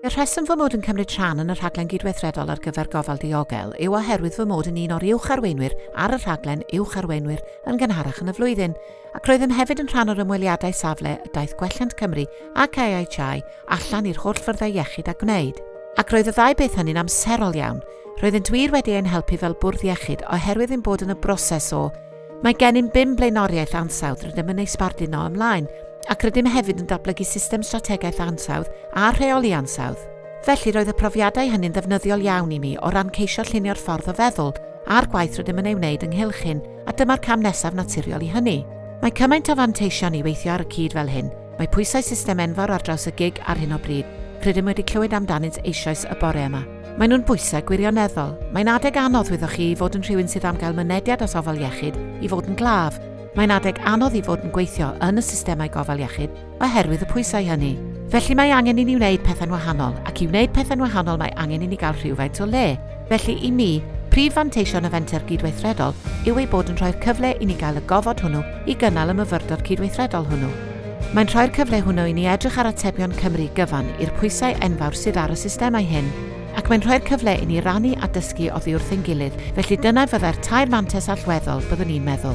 Y rheswm fy mod yn cymryd rhan yn y rhaglen gydweithredol ar gyfer gofal diogel yw oherwydd fy mod yn un o'r uwch arweinwyr ar y rhaglen uwch arweinwyr yn gynharach yn y flwyddyn, ac roeddem hefyd yn rhan o'r ymweliadau safle y daeth Gwelliant Cymru ac AHI allan i'r holl fyrddau iechyd a gwneud. Ac roedd y ddau beth hynny'n amserol iawn. Roeddent wir wedi ein helpu fel bwrdd iechyd oherwydd ein bod yn y broses o Mae gennym bum blaenoriaeth ansawdd rydym yn ei sbardun o ymlaen, ac rydym hefyd yn datblygu system strategaeth ansawdd a rheoli ansawdd. Felly roedd y profiadau hynny'n ddefnyddiol iawn i mi o ran ceisio llunio'r ffordd o feddwl a'r gwaith rydym yn ei wneud ynghylch hyn, a dyma'r cam nesaf naturiol i hynny. Mae cymaint o fanteision i weithio ar y cyd fel hyn. Mae pwysau system enfawr ar draws y gig ar hyn o bryd. Rydym wedi clywed amdanynt eisoes y bore yma. Maen nhw'n bwysau gwirioneddol. Mae'n adeg anodd wyddoch chi i fod yn rhywun sydd am gael mynediad at ofal iechyd i fod yn glaf. Mae'n adeg anodd i fod yn gweithio yn y systemau gofal iechyd oherwydd y pwysau hynny. Felly mae angen i ni wneud pethau'n wahanol, ac i wneud pethau'n wahanol mae angen i ni gael rhywfaint o le. Felly, i mi, prif fanteision y fenter gydweithredol yw ei bod yn rhoi'r cyfle i ni gael y gofod hwnnw i gynnal y myfyrdod cydweithredol hwnnw. Mae'n rhoi'r cyfle hwnnw i ni edrych ar atebion Cymru gyfan i'r pwysau enfawr sydd ar y systemau hyn, ac mae'n rhoi'r cyfle i ni rannu a dysgu oddi wrth ein gilydd, felly dyna fyddai'r tair mantes allweddol, byddwn i'n meddwl.